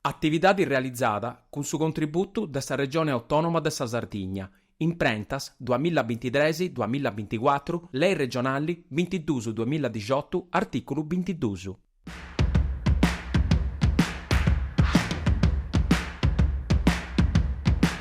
Atividade realizada cun su contributu de sa Regione Autònoma de sa Sardigna, imprentas, duas mila bintitres, duas mila binticuatru, Lei Regionali, bintidus duamila dexiotu, artìculu bintidus.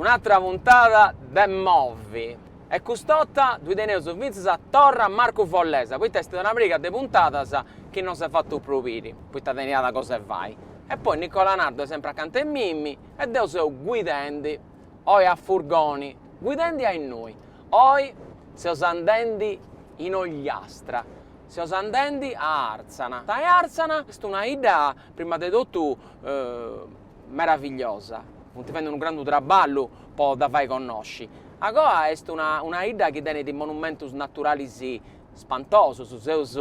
Un'atra puntada de Movi e cust'orta ddu teneus fintzas torra a Marcu Follesa poita est una pariga de puntadas chi non s'est fatu prus biri poita teniat cos'e fai e poi Nicola Nardo est sempri acanta 'e mimi e deu seu guidendi oi a furgoni, guidendi a innui, oi seus andendi in Ogliastra, seus andendi a Àrtzana, e Àrtzana est una 'idda prima de totu meravigliosa, funt fendi unu grandu traballu po dda fai connosci, agoa est una una 'idda chi tenit monumentus naturalis spantosus, seus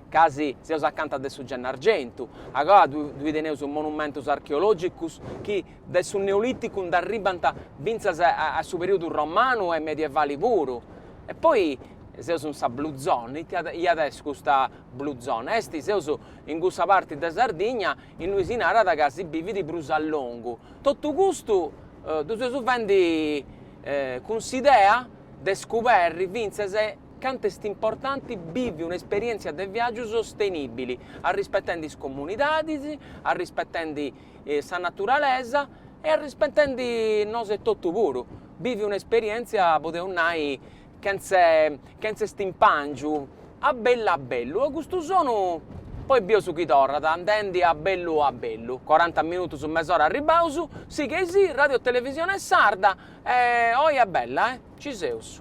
casi seus acanta de su Gennargentu, agoa ddoe teneus monumentus archeologicus chi Dae su Neolìticu nd'arribbant fintzas a su perìodu romanu e medievali puru. E poi seus in sa Blue Zone, ita at a essi custa Blue Zone? Est, seus in cussa parti de Sardigna innui si narat ca si bivit prus a longu. Totu custu ddu seus fendi cun s'idea de scuberri fintzas cantu est importanti bivi un'esperièntzia de viàgiu sostenìbili, arrispetendi is comunidadis, arrispetendi sa naturalesa e arrispetendi nos etotu puru, bivi un'esperièntzia, podeus nai, chentze chentze stimpàngiu, a bellu a bellu. E custu sonu poi bieus chi torrat, andendi a bellu a bellu, coranta minutus mes'ora arribbaus, sighei·sì, Radiotelevisione Sarda e oi a bellu eh! Ci seus.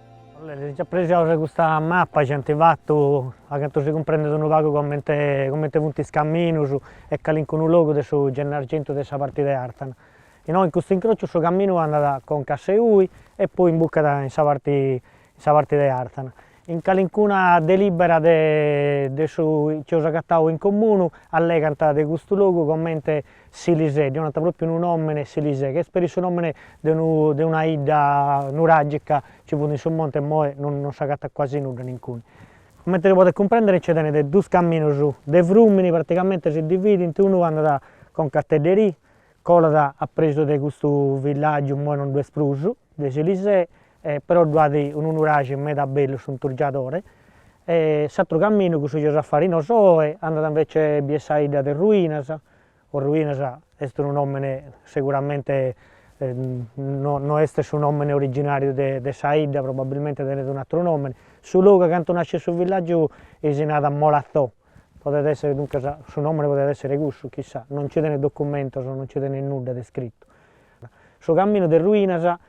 Si nci appressiaus de custa mapa nci ant fatu, a cantu si cumprendet, unu pagu comente comente funt is caminus e calincunu logu de su Gennargentu de sa parti de Àrtana. Innoi in custu incrociu su caminu andat a conca a Seui e poi imbucat in sa parti in sa parti de Àrtana. In calincuna delibera de de su chi eus agatau in comunu allegant de custu logu comente Silisè, ddi 'onant pròpiu unu nòmene Silisè, chi est peri su nòmene de unu de una 'idda nuràgica chi fut in su monte e immoe non non s'agatat cuasi nudda nincuni. Comente si podet cumprèndere nci tenit duus caminos de frùmini, pratigamente si dividint, unu andat a conca a Tedderì, colat a presu de custu villàgiu, immoe non ddu est prus, de Silisè, però ddu at unu nuraxi meda bellu s'Unturgiadore, s'atteru camminu cussu chi eus a fai nosu oi andat invece a bier sa 'idda de Ruinas, o Ruinas est unu nomene seguramente no no est su nomene originariu de de sa 'idda, probabilmente tenet un'ateru nomene, su logu a cantu nasciat su villagiu ei si narat Molatzò, podet esser duncas su nomene podet esser cussu, chissà, no nci tenet documentos, no nci tenet nudda de iscrittu. Su camminu de Ruinas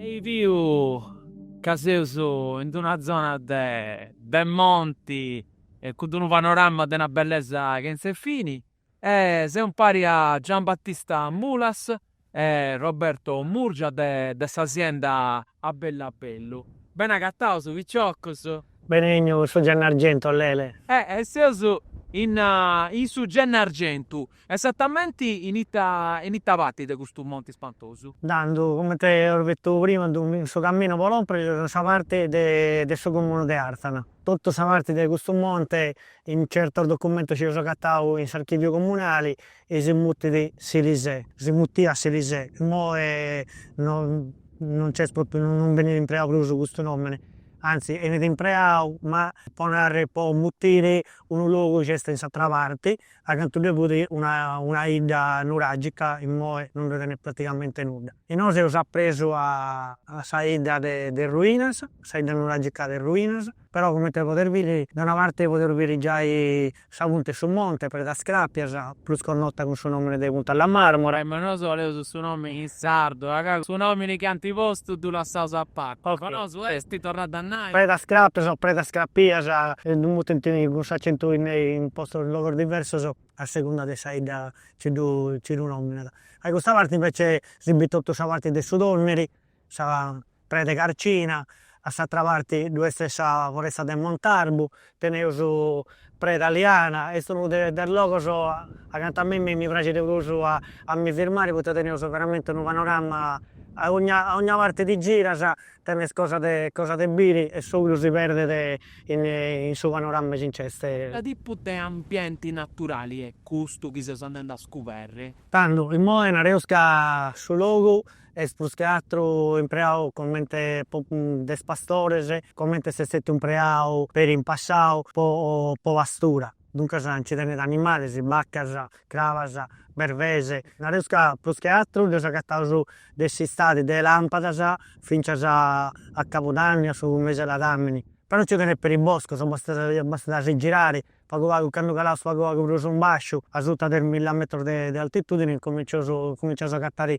E biu ca seus in d'una zona de de monti e cun d'unu panorama de una bellesa chentza 'e fini e seu impari a Giambattista Mulas E Roberto Murgia de de sa sienda a bellu a bellu. Bene agatados piciocos. Bene 'ènniu in su Gennargentu Lele. E seus in in su Gennargentu. Esatamenti in ita in ita parti de custu monti spantosu? Tando, comente eus bitu prima ddu in su caminu po lòmpere seus in sa parti de de su comunu de Artzana. Totu sa parti de custu monte in certos documentos chi eus agatau in s'archiviu comunali E si mutit Silisè. Si mutiat Silisè. Immoe non nc'est pròpriu, non benit impreau prus custu nòmene, antzis 'enit impreau, ma po narrer, po mutire unu logu chi est in s'atra parti, a cantu ddoe fut una una 'idda nuràgica, immoe non ddoe tenet pratigamente nudda. Inoghe seus apresu a sa 'idda de de Ruinas, sa 'idda nuràgica de Ruinas, però comente podes biri, da una parte podeus biri giai Sa punta 'e su monte Predas Cràpias, prus connota cun su nòmine de Punta La Marmora. E nosu oleus su nòmine in sardu, a ca su nòmine chi ant postu ddu lassaus a parte, po nosu est torradu a nai. Predas Cràpias o Predas Crapias, ddu mutent cun s'acentu in in postos in logos diversos a segunda de sa 'idda chi ddu nòminat. A custa parte invece si bit totu sa parte de su Tònneri. sa preda 'e carcina, a s'atra parti ddu est sa foresta de Montarbu, teneus Preda Liana, est unu de de is logos acanta a mei mi mi praxit de prus a mi firmai poita teneus veramenti unu panorama a ogna a ogna parti ti giras tenes cosa de cosa de biri e s'oju si perdet in in su panorama chi nc'est. Ita tipu de ambienti naturali est custu chi seus andendi a scuberri? Tando imoi nareus ca su logu Est prus che atru impreau comente po de is pastores, comente s'est stetiu impreau peri in passau po po pastura. Duncas nci tenit animalis, baccas, crabas, bervese. Nareus ca prus che atru ddois agataus de s'istadi de lampadas fintzas a a cabudanni, a su mesi 'e ladamini. Però nci tenit peri boscos, bastat bastat a si girari pagu pagu, candu calaus pagu pagu prus in basciu, asuta de is milla metros de de altitudini, incomincius incominciaus a agatari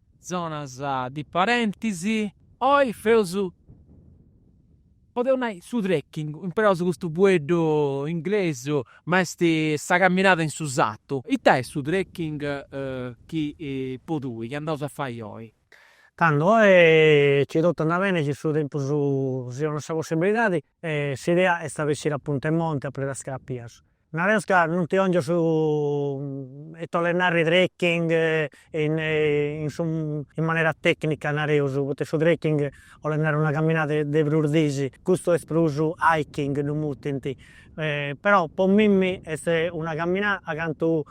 zonas de padentes. Oi feus, podeus nai, su trekking, imperaus custu fueddu inglesu, ma est sa caminada in su satu. Ita est su trekking chi po tui, chi andaus a fai oi? Tando oi, chi totu andat beni, chi su tempus si 'onat sa possibilidadi, E s'idea est a bessiri a punta 'e monti a Perdas Crapias. Nareus ca non ti 'ongiu su ite 'olet narrer trekking in in su in manera tecnica nareus, poita su trekking 'olet narrer una camminada de prus disi, custu est prus hiking ddu mutint, però po mimmi est una camminada cantu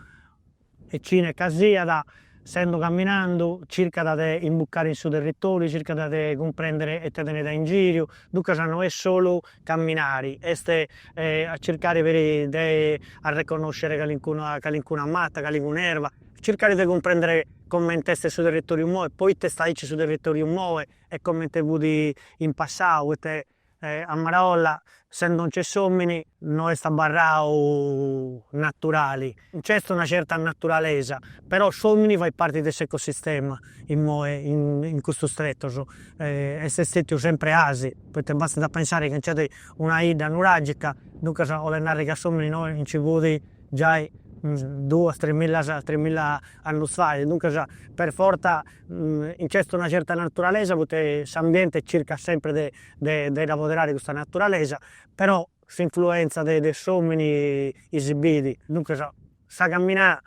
E cine ca siat, sendo caminandu, circat de imbucare in su territòriu, circat de cumprèndere ite tenet a ingìriu, duncas no est solu caminare, est a circare peri de arreconnòscere calincuna calincuna mata, calincuna erba, circare de cumprèndere comente est su territòriu immoe, poita est aici su territòriu immoe e comente fut in passau, poita A maraolla, sendo nce s'omini, no est abarrau naturali. Nc'est una certa naturalesa, però s'omini fait parti de s'ecosistema immoe in custus tretos. Est stetiu sempre asi, poita bastat a pensare chi nc'est una 'idda nuragica, duncas olet narri ca s'omini innoi nci fut giai duas tres millas tres milla annus fait, duncas per fortza Nc'est una certa naturalesa poita s'ambiente circat sempre de de dda apoderare custa naturalesa, però s'influenza de de s'omini i si bit. Duncas sa camminada,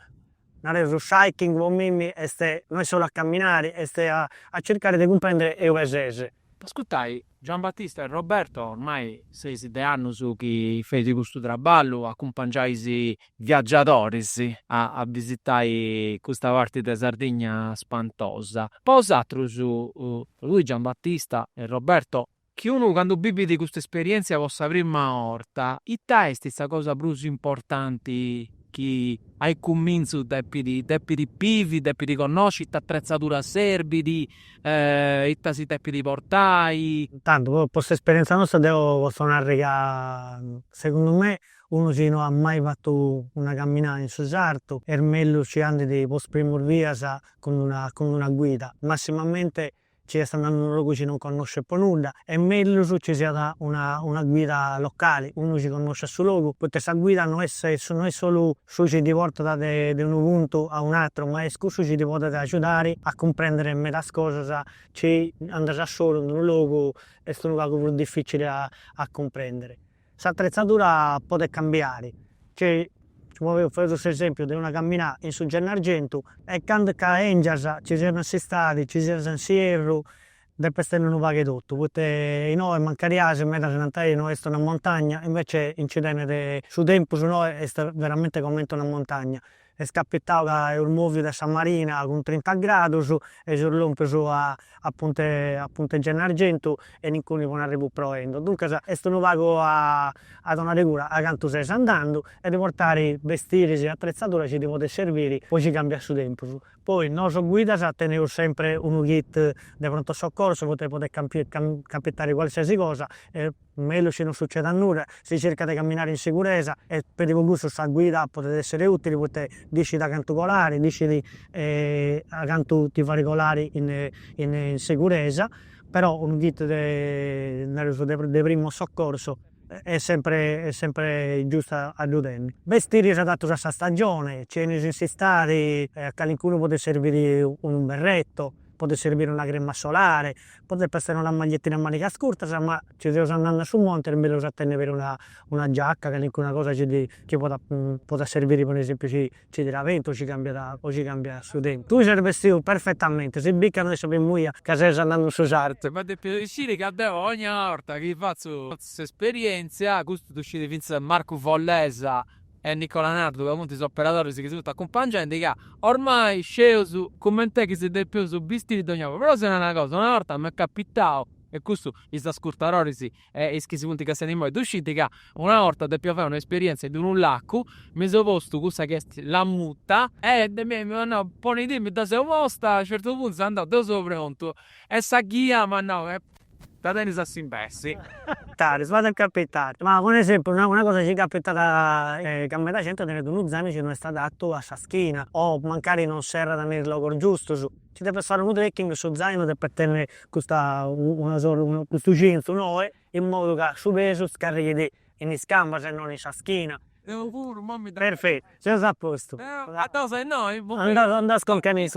nareus s'hiking po mimmi est no est solu a camminare est a circare de cumprendere eube sese. Ascurtai Giambattista e Roberto ormai seis de annus chi feis custu traballu, acumpangiais viagiadoris a bisitai custa parti de Sardigna spantosa. Po osatrus, tui Giambattista e Roberto, chi unu candu bivit custa esperientzia po sa prima orta, ita est sa cosa prus importanti chi a cumintzu depit depit bivi, depit connosci, ita atretzadura serbit, Ita si depit portai? Tantu, po s'esperientza nosta deu potzu narri ca segundu me unu chi no at mai fatu una caminada in su sartu est mellus nci andit po is primus bias cun una cun una guida, massimamente nci est andandu in unu logu chi non connoscit po nudda, est mellus nci siat una una guida locali, unu chi connosciat su logu, poita sa guida no est no est solu su chi ti portat de unu puntu a un'atru, ma est cussu chi ti podet agiudare a cumprèndere medas cosas chi andas a solu in unu logu est unu pagu prus dificili a a cumprèndere. S'atretzadura podet cambiare, nci moveus, faeus s'esempiu de una caminada in su Gennargentu e candu ca 'engias, nci sias in s'istadi, nci sias in s'ierru, Depes tenni unu pagu 'e totu, poita inoi mancarias medas nant ai no est una montagna, invece nci tenet, su tempus inoi est veramente comente una montagna, est capitau ca eus moviu de sa marina cun trinta gradus e seus lompius a a punta a punta Gennargentu e incuni po n'arribu proendu, duncas est unu pagu a a donare cura a cantu ses andandu e de portare bestiris e atretzadura chi ti podit serviri po si cambiat su tempus, Poi nosu guidas teneus sempre unu kit de pronto soccorso poita podet capitare qualsiasi cosa est mellus chi non sucedat nudda, si circat de camminare in siguresa e peri po cussu sa guida podet essere utili poita dd'iscit a cantu colare, dd'iscit a cantu ti faere colare in siguresa, però unu kit de nareus de primu soccorso. est sempre est sempre giustu a ddu tenni. Bestiris adatus a sa stagioni, nci 'enis in s'istadi, a calincunu podet serbiri unu berretto, podet serbiri una crema solare, podet essere una maglietina a manigas curtas, ma nci seus andende a su monti est mellus a tenni peri una giacca, calincuna cosa chi podat podat serbiri po unu esempiu chi Nci tirat bentu o nci cambiat o nci cambiat su tempus. Tui ses bestidu perfetamente, si bit ca no est sa primu 'ia ca ses andandu in su sartu. Ma depis sciri ca deu ogna 'orta chi fatzu s'esperientzia, custu ddu scint fintzas Marcu Follesa e Nicola Nardu ca funti is operadoris chi si funti acumpangendi, ca ormai sceus cument'est chi si depeus bistiri dogna 'orta. Però si nau una cosa, una 'orta m'est capitau, e custu is ascurtadoris E is chi si funt castiendi imoi ddu scint ca una 'orta depia fai una esperientzia in unu lacu, mi seu postu cussa chi est la muta, e mi m'at nau, ponidì, mi dda seu posta, a u' certu puntu seu andau deu seu prontu, e sa ghia m'at nau, e dda tenis a s'imbessi. Is cosas chi capitant, ma po esempiu una una cosa chi capitat ca meda genti tenet unu zàinu chi no est adatu a sa schina, o mancari non serrat me is logos giustus. Ci depis fare unu trekking, su zainu depet tenni custa una sorta, custu cintu noe, in modu ca su pesu scarrighit in is cambas e non in sa schina. Deu puru, imoi mi deppu. Perfettu, seus a postu. Deu a dos e innoi. Andas, andas conca a is.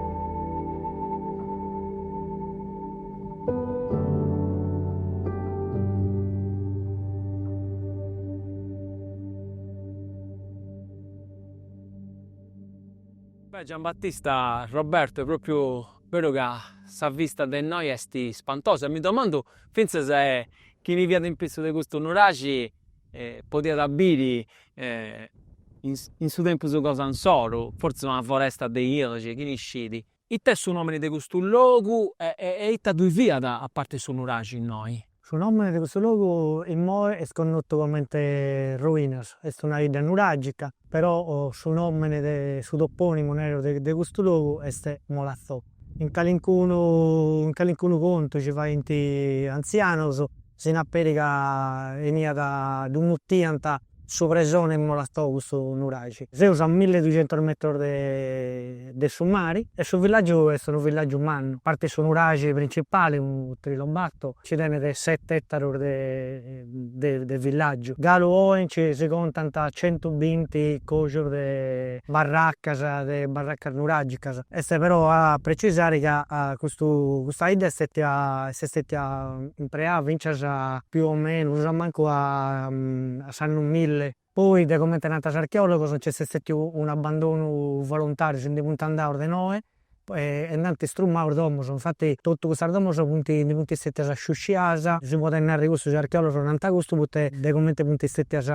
Beh Giambattista Roberto est propriu beru ca sa vista de innoi est spantosa e mi domandu fintzas chini fiat in pitzus de custu nuraxi e podiat biri in su tempus cosa insoru, fortzis una foresta de ilixi, chini scit. It'est su nomini de custu logu e ita ddui fiat a parti de su nuraxi innoi? Su nomini de custu logu immoi est connotu comenti Ruinas, est una 'idda nuragica Però su nòmene de su topònimu beru de custu logu est Molazzò. In calincunu in calincunu contu ci faint is antzianos, si nat peri ca 'eniat, ddu mutiant su presone 'e Molazzò custu nuraxi. Seus a milli e duxentos metros de de su mari e su villàgiu est unu villàgiu mannu, a parti su nuraxi principali, unu trilombato, nci tenet sete ètaros de de villàgiu. Galu oe nci si contant centu binti còxus de barracas, de barracas nuràgicas. Est però a precisare ca custu custa 'idda est stètia est stètia impreada fintzas più o menus a mancu a s'annu milli. Poi, de comente narant is archeòlogos, nci est stètiu unu abandonu voluntàriu, si ndi funt andaus de noe e nd'ant istrumau is domus, infati totu custas domus funt, ndi funt stètias sciusciadas, si podet narri cussu, is archeòlogos narant custu, poita de comente funt stètias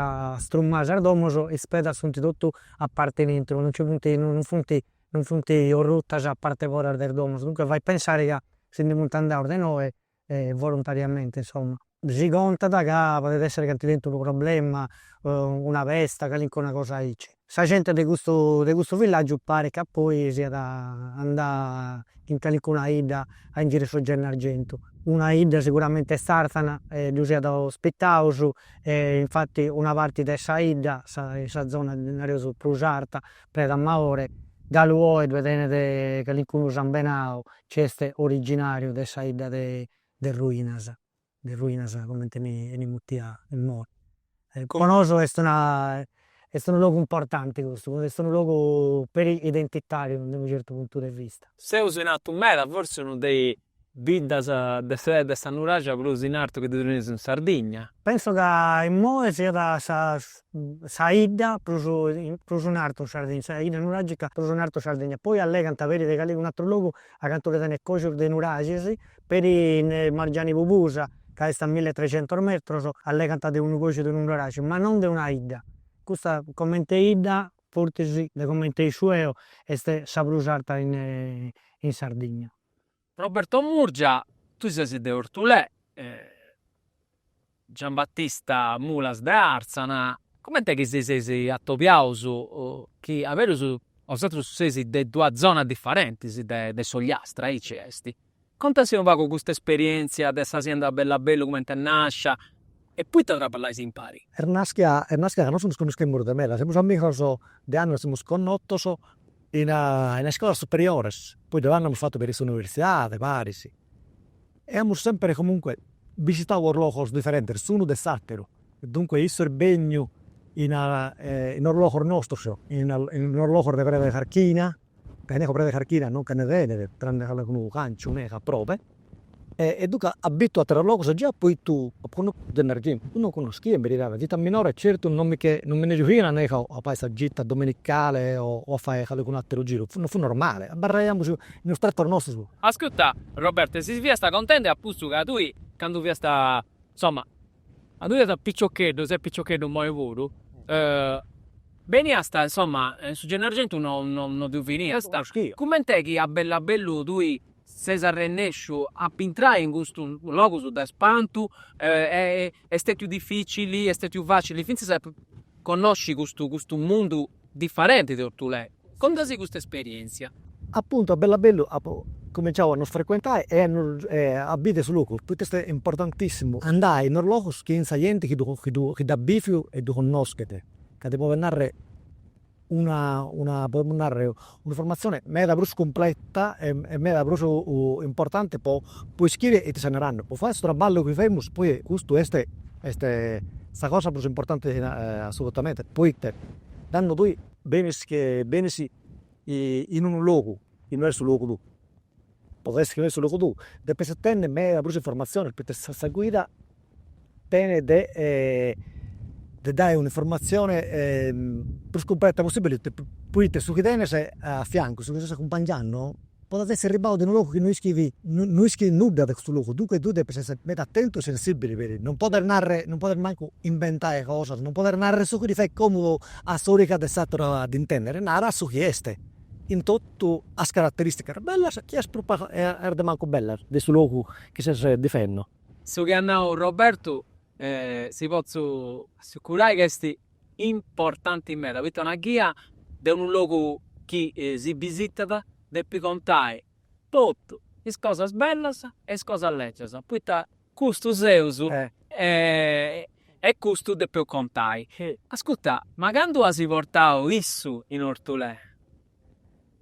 strumadas sas domus, is pedras funt totu a parti in intro, non nci funt, non funt, non funt orrutas a parte foras de is domus, duncas fait pensai ca si ndi funt andaus de noe volontariamente insomma. Si contat ca podet esser ca ant tentu unu problema, una pesta, calincuna cosa aici. Sa gente de custu de custu villaggiu paret ca poi siat andada in calincuna 'idda a ingiri su Gennargentu. Una 'idda siguramente est Arzana e ddus at ospitaus e infati una parti de sa 'idda, sa zona nareus prus arta, Preda Maore, galu oe ddoe tenet calincunu sambenau chi est originàriu de sa 'idda de de Ruinas, de Ruinas comente 'enit mutia imoi. Po nosu est una est unu logu importanti custu, est unu logu peri identitàriu de unu certu puntu de vista. Seus in artu meda, fortzis unu de Biddas de sa de sa nuraxia prus in artu chi ddu teneus in Sardigna. Penso ca immoe siat sa sa 'idda prus prus in artu in Sardigna, sa 'idda nuragica prus in artu in Sardigna. Poi allegant peri de calincunu atru logu acantu ddi tenent coxus de nuraxis, peri in Margiani Pubusa ca est a mille e trecentos metros allegant de unu coxu de unu nuraxi, ma non de una 'idda. Custa comente 'idda, fortzis de comente isciu eo, est sa prus arta in in Sardigna. Roberto Murgia, tui ses de Ortulè, Giambattista Mulas de Arzana, comente chi si seis atobiaus chi a berus bosatrus seis de duas zonas diferentis de s'Ogliastra, aici est. Contasi unu pagu custa esperientzia de sa sienda Bellabellu comente est nascia e poita traballais impari. Est naschia est naschia ca nosu nos connoschemus de meda, semus amigos de annos semus connotos in as iscolas superiores, poi de tando amus fatu peri s'universidade paris, e amus sempre comunque bisitau os logos diferentes s'unu de s'ateru, duncue issu est benniu in os logos nostros, in os logos de preda 'e carchina, ca inneco preda 'e carchina non nche ne tenet, tranne calecunu canciu, meda probe E duca at bitu atteros logos già apo bitu su Gennargentu no connoschia in beridade chi de minore certu no mi che no mi ne giughiana a nega o a fai sa gita domenicale o a fai calicunu atteru giru no fu normale abbarraiamus in os tretos nostros. Ascutta Roberto e si fiasta contende apuntu ca tui candu fiasta insomma A tui a piciocheddu ses piciocheddu moi puru, beniast insoma in su Gennargentu no no ddu beniast, cumenti chi a bellu a bellu tui ses arrennesciu a bintrai in custus logus de spantu est stetiu dificili, est stetiu facili finzas a connosci custu mundu differenti de Ortulè. Contasi custa esperièntzia. Apuntu a bellu a bellu apu cuminciau a ddus frecuentai e e a biri su logu, poita est importantissimu andai in os logus chin sa genti chi chi dd'at biviu e ddu connoschet, ca ti podit narri una una podemus narri un'informatzioni meda prus cumpleta e e meda prus importanti po po ischiri ita ses narandu, po fai su traballu chi femus, poi custu est est sa cosa prus importanti assolutamenti, poita candu tui benis che benis in unu logu chi no est su logu tuu, poita est chi no est su logu tuu depis tenni meda prus informatzionis poita sa sa guida tenit de de dai un'informatzioni prus cumpleta possibili poita su chi tenes a fiancus, su chi ses acumpangiandu Podet essi arribau de unu logu chi no ischit no ischit nudda de custu logu, duncas tui depis essi meda attentu e sensibili peri non poder narrer non poder mancu inventai cosas, non poder narrer su chi ddi fait comodu a s'origa de s'ateru a ddi intendere, narat su chi est, in totu as carateristicas bellas e as prus e as de mancu bellas de su logu chi ses difendu. Su chi at nau Robertu si potzu assicurai ca est importanti meda, poita una ghia de unu logu chi si bisitat depit contai totu, is cosas bellas e is cosas lègias, poita custu seus e custu depeus contai. Ascurta, ma candu as portau issu in Orthullè,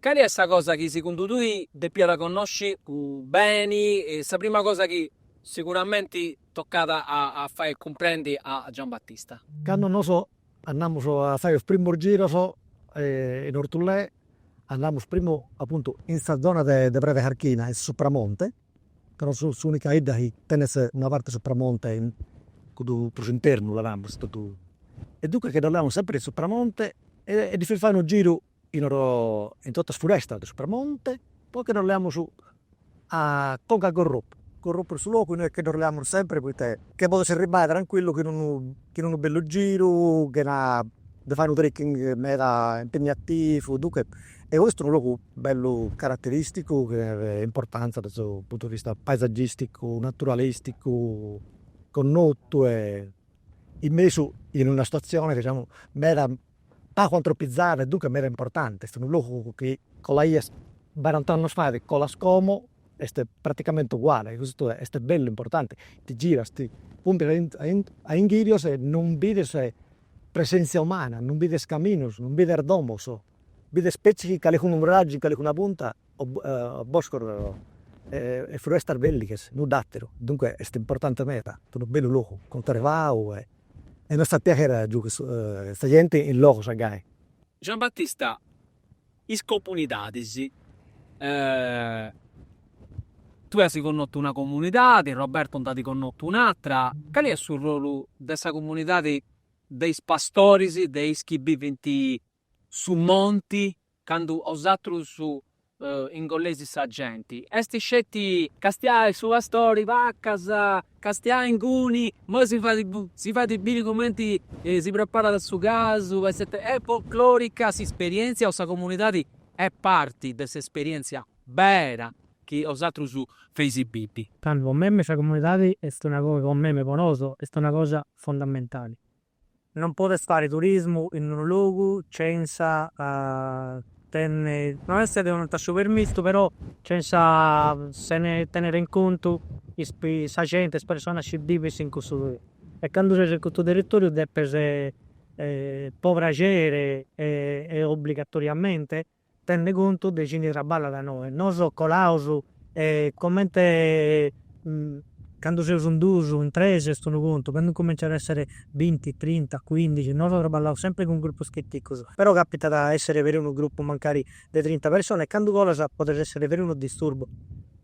Cali est sa cosa chi segundu tui depiat connosci beni, sa prima cosa chi siguramenti tocat a fai cumprendi a Giambattista? Candu nos andamus a fai is primus giros in Orthullè andamus primu apuntu in sa zona de preda carchina in Supramonte, ca nos seus s'unica 'idda chi tenet una parti 'e Supramonte in cuddu prus internu, naramus, totu. E duncas che ddu leamus sempri in Supramonte e ddi feus fai unu giru in oro in totu is furestas de Supramonte, poi che nos leamus a conca a Gorropu, Gorropu est su logu innoi che nos leamus sempri poita che podes arribai trancuillu chin unu chin unu bellu giru, chena de fai unu trekking meda impegnativu, dunche est custu unu logu bellu carateristicu chi at importanza de su puntu de vista paesaggisticu, naturalisticu, connotu e in mesu in una situazione diciamo meda pagu antropizada e duncas meda importanti, est unu logu chi colaias barant'annus fait colas como est praticamenti uguali, custu est bellu, importanti, ti giras, ti pùmpias a inghìrios e non bides presèntzia umana, non bides caminus, non bides domus, bides petzi calicunu nuragi in calicuna punta. boscos e fruestas de èlighes, nudd'ateru, duncue est importante meda, est unu bellu logu cuntrevau e nos dat piaghere a giughe sa genti in logus a gai. Giambattista, is comunidadis, tue as connotu una comunidadi, Roberto nd'at connotu un'atra, cali est su ruolu de sa comunidadi de is pastoris, de is chi bivint su monti candu osatrus ingolleis sa genti, est sceti castiai su pastori, vacas, castiai inguni, moi si fait biri cumenti si preparat su casu, est, est folclorica s'isperientzia o sa comunidadi est parti de s'esperientzia bera chi osatrus feisi bivi. Tandu po meme sa comunidadi est una cosa, po meme, po nosu, est una cosa fondamentali. Non podes fare turismu in unu logu censa tenni. Non est ti donant su permissu però censa sene tenere in contu is sa genti is personas chi bivent in cussu territoriu e candu ses in cussu territoriu depes po pragere e obbligatoriamente Tenner contu de chini traballat inoe. Nos colaus e comente candu seus in duus, in tres est unu contu, candu incominciant a esser binti, trinta, cuindixi, nos traballaus sempri cun grupus chiticus, però capitat a esser peri unu grupu mancari de trinta personas e candu colas podet esser peri unu disturbu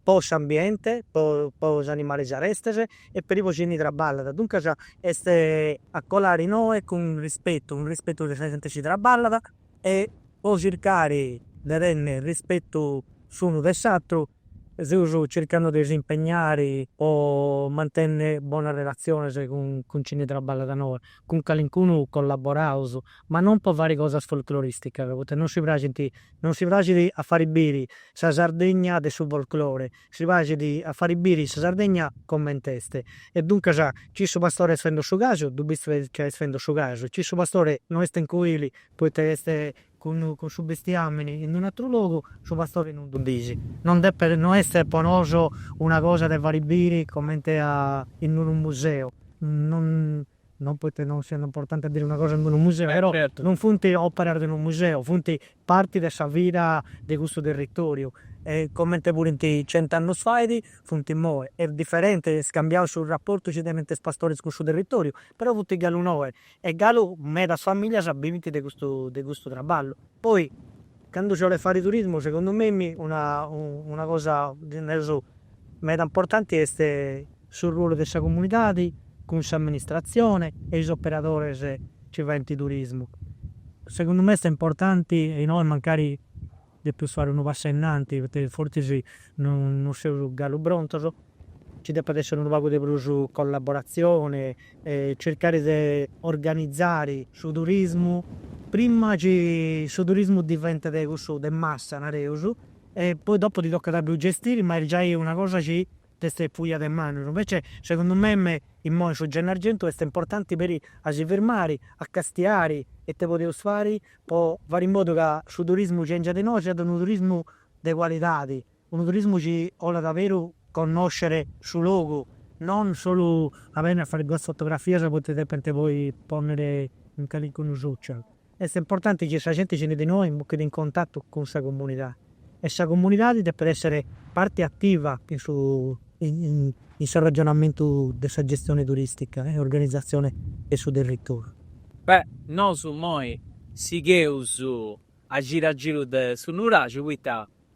po s'ambiente, po po is animalis arestes e peri po chini traballat. Duncas est a colai inoe cun rispetu, cun rispetu de sa genti chi traballat. e po circare de tenner rispetu s'unu de s'atru seus circando de s'impegnare po mantenner bonas relatziones cun chini traballat inoe, cun calincunu collaboraus, ma non po fare cosas folcloristicas, poita non si praxint, non si praxit a fare biri sa Sardegna de su folclore, si praxit a fari biri sa Sardegna coment'est, e duncas ci su pastore est fendo su casu, ddu bis ca est fendo su casu, ci su pastore no est in cuili poita est cun su bestiamini in un'atru logu, su pastore non ddu bis. Non depet no est po nosu una cosa de fari biri comente a in unu museu, non. non poita non siat importanti a biri una cosa in unu museu, però non funt òperas de unu museu, funt parti de sa vida de custu territòriu, e comente furint cent'annus fait, funt imoi. Est diferenti, est cambiau su raportu chi tenint is pastoris cun su territòriu, però funt galu innoi, e galu medas famìllias bivint de custu de custu traballu. Poi, candu si 'olit fai turismu, segundu mei, una cosa, nareus, meda importanti est su ruolu de sa comunidadi cun s'amministratzioni e is operadoris chi faint turismu. Segundu mei est importanti e inoi mancari depeus fai unu passu ainnanti poita fortzis no seus galu prontus, nci depit essi unu pagu de prus collaboratzioni e circari de organizari su turismu prima chi su turismu diventet cussu de massa nareus e poi dopu ti tocat a ddu gestiri ma est giai una cosa chi t'est fuia de manus. Invece segundu mei immoi su Gennargentu est importanti peri a si firmari, a castiari ite podeus fari po fari in modu ca su turismu chi 'engiat innoi siat unu turismu de cualidadi, unu turismu chi 'olat a beru connoscere su logu, non solu a beniri a fai duas fotografias poita depent poi ponniri in calincunu social. Est importanti chi sa genti chi benit innoi intrit in contatu cun sa comunidadi e sa comunidadi depet èssere parti ativa in su in s'arragionamentu de sa gestione turistica e organizatzione de su territoriu. Beh, nosu immoi sigheus a giru a giru de su nuraxu, poita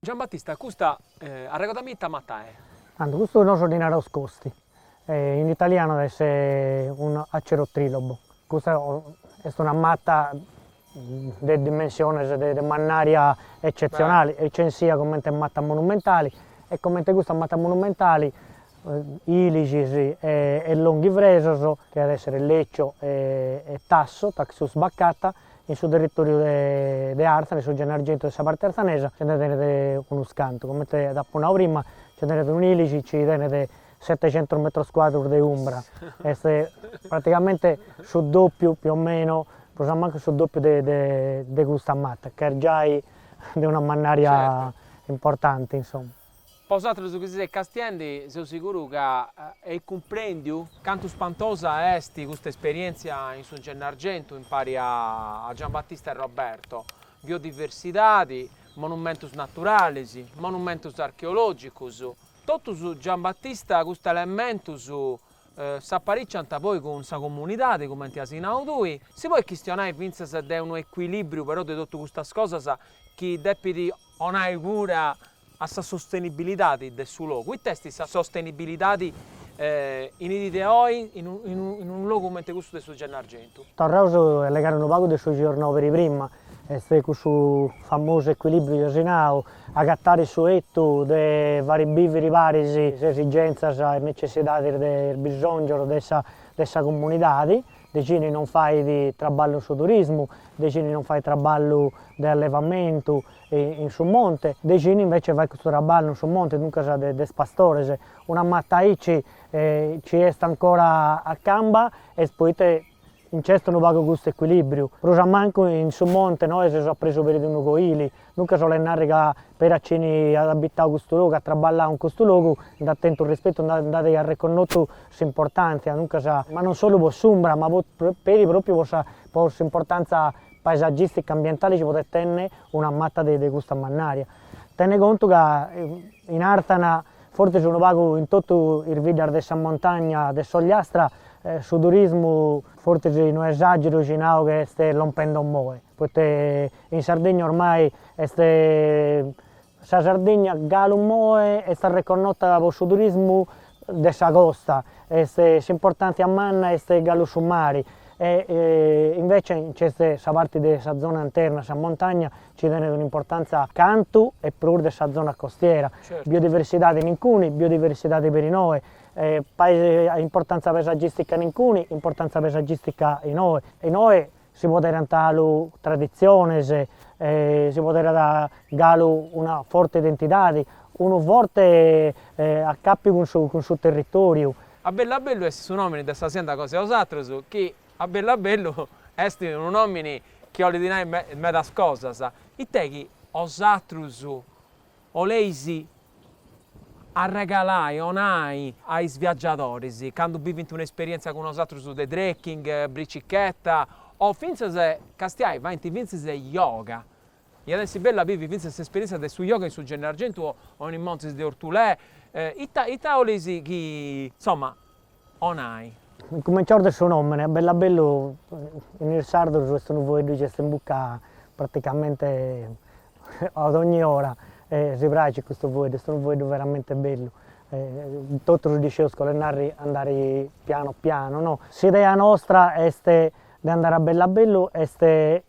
Giambattista, Custa arregodami ita matta è? Tando, Custu nosu ddi naraus costi, in italianu est un acero trilobo, custa est una matta de dimensiones de mannaria eccetzionali, est censia comente matta monumentali e comente custa matta monumentali ilixis e longhifresos chi at esser Leccio e Tasso, Taxus baccata, In su territòriu de Artzane, su Gennargentu de sa parte artzanesa nce nde tenet unus cantu, comente t'apo nau prima, nce tenet unu ilixi, chi tenet setecentos metros cuadros de umbra, est praticamente su dòpiu più o meno, prus a mancu su dòpiu de custa mata ch'est giai de una mannaria importanti, insoma Po bosatrus chi seis castiendi seu siguru ca eis cumprendiu cantu spantosa est custa esperientzia in su Gennargentu impari a Giambattista e Roberto, biodiversidadi, monumentus naturalis, monumentus archeologicus, totus Giambattista custus elementus s'appiccigant poi cun sa comunidadi cumenti asi nau tui, si podit chistionai fintzas de unu equilibriu però de totu custas cosas chi depit 'onai cura a sa sostenibilidadi de su logu, ita est sa sostenibilidadi in dì de oi in unu logu cumenti custu de su Gennargentu. Torraus a allegare unu pagu de su chi eus nau peri prima, est cussu famosu ecuilibriu chi eus nau, agatare su 'etu de fari biviri paris is esigenzas e is necessidadis de is bisongius de sa comunidadi, de chini non fait traballu in su turismu, de chini non fait traballu de allevamentu in su monte, de chini invece fait custu traballu in su monte, duncas de is pastores, una mata aici nci est ancora a camba, est poita nc'est unu pagu custu ecuilibriu, prus a mancu in su monte nois seus a probu peri de unu coili, Duncas 'olet narri ca peri chini at abitau custu logu, at traballau in custu logu, nd'at tentu rispettu, nd'at arreconnotu s'importàntzia, duncas, ma non solu po s'umbra, ma peri pròpiu po sa po s'importàntzia paesagìstica ambientali chi podet tenni una mata de de custa mannària. Tene contu ca in Àrzana, fortzis unu pagu in totu is biddas de sa montagna de s'Ogliastra, su turismu, fortzis no esàgeru si nau ca est lompende omoe, Poita in Sardigna ormai est sa Sardigna galu moe est arreconnota po su turismu de sa costa, est s'importàntzia manna est galu su mari e invece nc'est sa parti de sa zona interna, sa montagna nci tenet un'importàntzia cantu e prus de sa zona costiera, biodiversidade nincuni, biodiversidade peri noe, importantza pesagìstica nincuni, importantza pesagìstica inoi, inoi si poderant galu traditziones, si poderat galu una forte identidade, unu forte acapiu cun su cun su territòriu. A bellu a bellu est su nòmini de sa sienda cosa 'e osatrus, chi a bellu a bellu est unu nòmini chi 'olit nai medas cosas, ite chi osatrus Oleis arregalai, onai, a is viagiadoris, candu bivint una esperièntzia cun osatrus de trekking, bricicheta, o fintzas, castiai, faint fintzas yoga. Iat essi bellu a bivi fintzas s'esperièntzia de su yoga in su Gennargentu o in is montis de Ortulè. Ita, ita oleis chi, insoma, onai. Cumentzaus de su nomene, a bellu a bellu in is sardus est unu foeddu chi est in bucca praticamente a dogni ora e si praxit custu foeddu, est unu foeddu veramente bellu e totus ddi sceus ca 'olet narri andari pianu pianu no. S'idea nostra est de andari a bellu a bellu est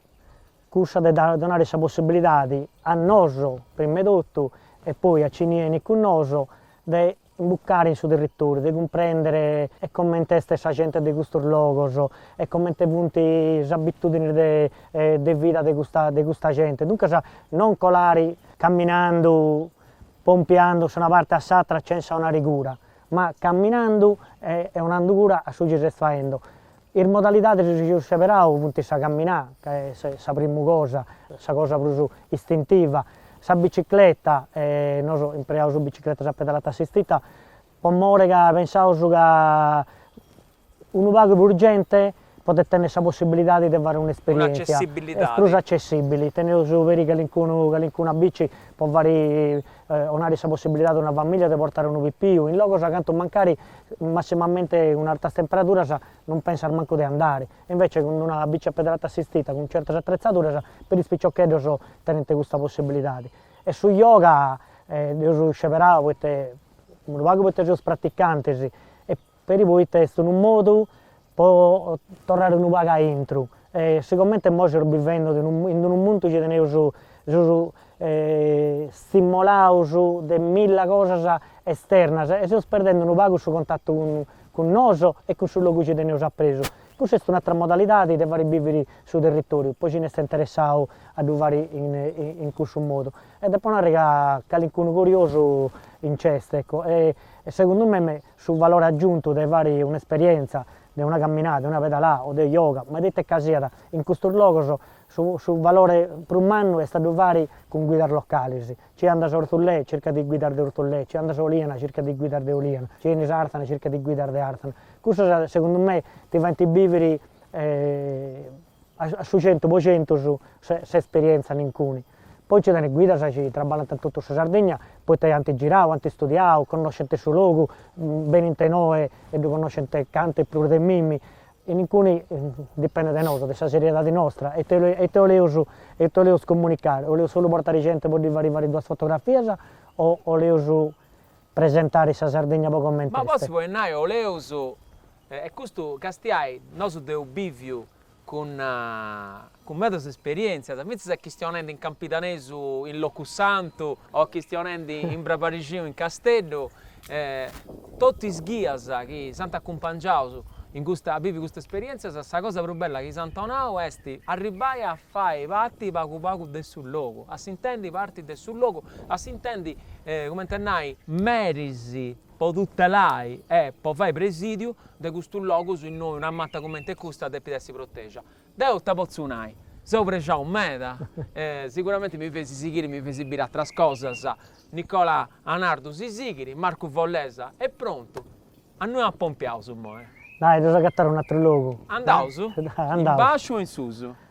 cussa de dare donare sa possibilidadi a nosu prima 'e totu e poi a cini 'enit cun nosu de imbucare in su territoriu, de cumprendere e comente est sa gente de custos logos e comente funt is abitudinis de de vida de custa de custa gente, duncas non colare camminandu pompiandu a s'una parte a s'atra chentza 'onare cura, ma camminandu e e 'onandu cura a su chi ses faendo Is modalidadis chi eus seberau funt sa caminada, ca est sa primu cosa, sa cosa prus istintiva, sa bicicleta, nosu impreaus bicicletas a pedalata assistita, po more ca pensaus ca unu pagu prus genti podet tenni sa possibilidadi de fai un'esperientzia, est prus accessibili, teneus peri calincunu, calincuna bici po fai onari sa possibilidade a una famìlia de portare unu pipiu in logos a cantu mancari massimamente cun artas temperaduras non pensas mancu de andare, e invece cun una bici a pedalata assistita cun certas attrezzaduras per is piccioccheddos tenent custa possibilidade. E su yoga dheus sceberau poita unu pagu poita seus praticantes e Peri poita est unu modu po torrare unu pagu a intru, sigomente imoi seus bivende in unu mundu chi teneus, seus stimolaus de milla cosas esternas e seus perdende unu pagu su contatu cun cun nosu e cun su logu chi teneus apresu, cussa est un'atera modalidadi de fagher biviri su territoriu, po ci nd'est interessau a ddu fagher in cussu modu, e depo narrer ca calincunu curiosu nc'est ecco, e segundu mei su valore agiuntu de fari un'esperientza de una camminada, de una pedalada o de yoga, ma de ite ca siat, in custus logos su valore prus mannu est a ddu fari cun guidas localis, ci andas a Orthullè circas de guidas de Orthullè, ci andas a Oliana circas de guidas de Oliana, ci 'enis a Arthana circas de guidas de Arthana, cussas segundu me ti faint biviri A su centu po centus s'esperientza in cuni. Poi nci tenit guidas chi traballant in totu sa Sardegna poita ant girau, ant studiau, connoscint su logu, benint inoi e ddu connoscint cantu e prus de mimi. In cuni dipendit de nosu, de sa seriedadi nostra, ita ita 'oleus ita 'oleus comunicai, 'oleus solu portai genti po ddi fai fai duas fotografias o 'oleus presentai sa Sardegna po comenti est. Ma potzu puru nai 'oleus E custu castiai nosu dd'eus biviu cun medas esperientzias, fintzas a chistionendi in campidanesu in Locusantu o a chistionendi in brabarixinu in Casteddu, totu is ghias chi s'ant acumpangiaus in custa a bivi custas esperientzias, sa cosa prus bella chi s'ant nau est arribbai a fai parti pagu pagu de su logu, a s'intendi parti de su logu, a s'intendi cumenti a nai, meris po tutelai e po fai presìdiu de custus logus innoi una mata cumenti custa depit essi protègia. Deu ita potzu nai? Seu prexau meda e siguramenti mi feis sighiri mi feis biri atras cosas, Nicola Anardu si sighiri, Marcu Follesa est prontu. A innui apompiaus imoi. Dai, dd'eus a agatari un'atru logu. Andaus? In baxu o in susu?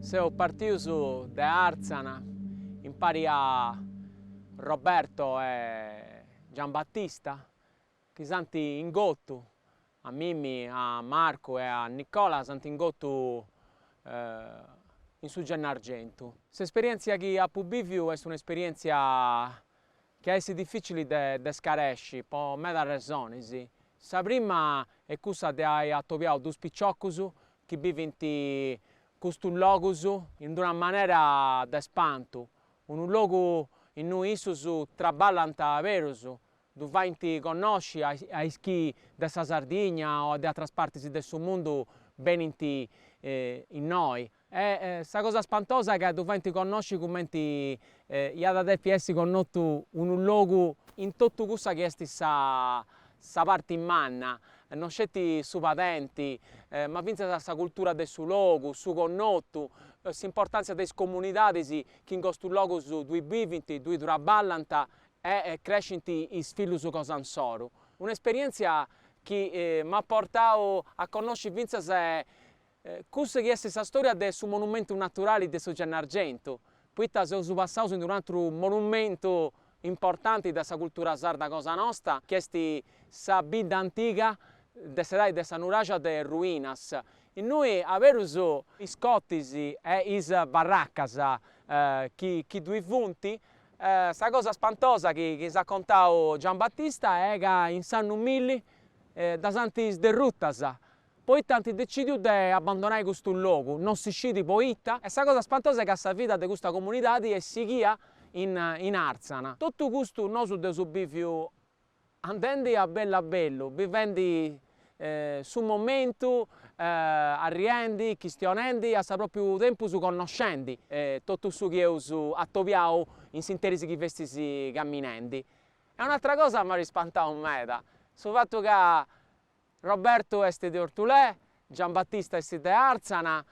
Seus partius de Àrtzana impari a Roberto e Giambattista chi s'ant ingotu, a mimi, a Marcu e a Nicola s'ant ingotu in su Gennargentu. S'esperièntzia chi apu bìviu est un'esperièntzia chi at a essi difìcili de scaresci po medas resonis. Sa prima est cussa de ai atobiau duus piciocus chi bivint custus logus in d'una manera de espantu, unu logu innui issus traballant berus, ddu faint connosci a is chi de sa Sardigna o de atras partis de su mundu benint innoi. E sa cosa spantosa ca ddu faint connosci cumenti iat a depi essi connotu unu logu in totu cussa chi est sa sa parti manna, non sceti su padenti, ma fintzas sa cultura de su logu, su connotu, s'importàntzia de is comunidadis chi in custus logus ddui bivint, ddui traballant e crescint is fillus cosa insoru. Un'esperièntzia chi m'at portau a connosci fintzas Cussu chi est sa storia de su monumentu naturali de su Gennargentu, poita seus passaus in unu atru monumentu importanti de sa cultura sarda cosa nosta, chi est sa bidda antiga de s'edadi de sa nuraxa de Ruinas, innui aberus is cortis e is barracas chi chi ddoi funt. Sa cosa spantosa chi chi s'at contau Giambattista est ca in s'annu milli ddas ant sderrutas Poita ant decìdiu de abandonai custu logu, non si scit poita, e sa cosa spantosa est ca sa vida de custa comunidadi est sighia in in Àrzana. Totu custu nosu dd'eus bìviu andendi a bellu a bellu, bivendi su momentu, arriendi, chistionendi, a su pròpiu tempus connoscendi totu su chi eus atobiau in s'interis chi festus caminendi. E un'atra cosa m'at ispantau meda, su fatu ca Robertu est de Ortulè, Giambattista est de Àrtzana,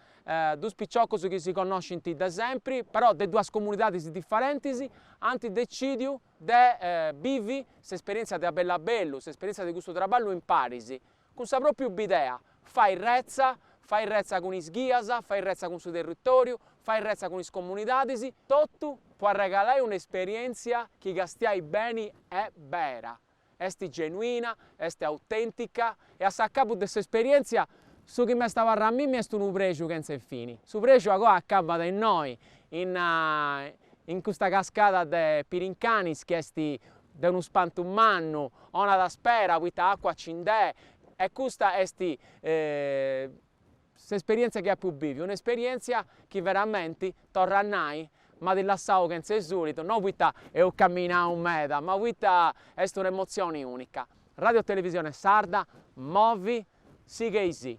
duus piciocus chi si connoscint de sempri, però de duas comunidadis diferentis, ant decìdiu de bivi s'esperièntzia de A bellu a bellu, s'esperièntzia de custu traballu imparis, cun sa pròpriu bidea, fai retza, fai retza cun is ghias, fai retza cun su territòriu, fai retza cun is comunidadis, totu po arregalai un'esperièntzia chi castiai beni est bera. Est genuina, est autèntica e a s'acabu de s'esperièntzia su chi m'est abarrau a mimi est unu prexu chentze fini. Su prexu agoa acabat innoi, in in custa cascada de Pirincanis chi est de unu spantu mannu, donat spera, poita acua nci nd'est e custa est S'esperièntzia chi apu bìviu, un'esperièntzia chi veramenti, torru a nai, m'at lassau chentze sùlitu, no poita eus caminau meda, ma poita est un'emotzioni ùnica. Ràdio Televisione Sarda, movi, sighi-sì.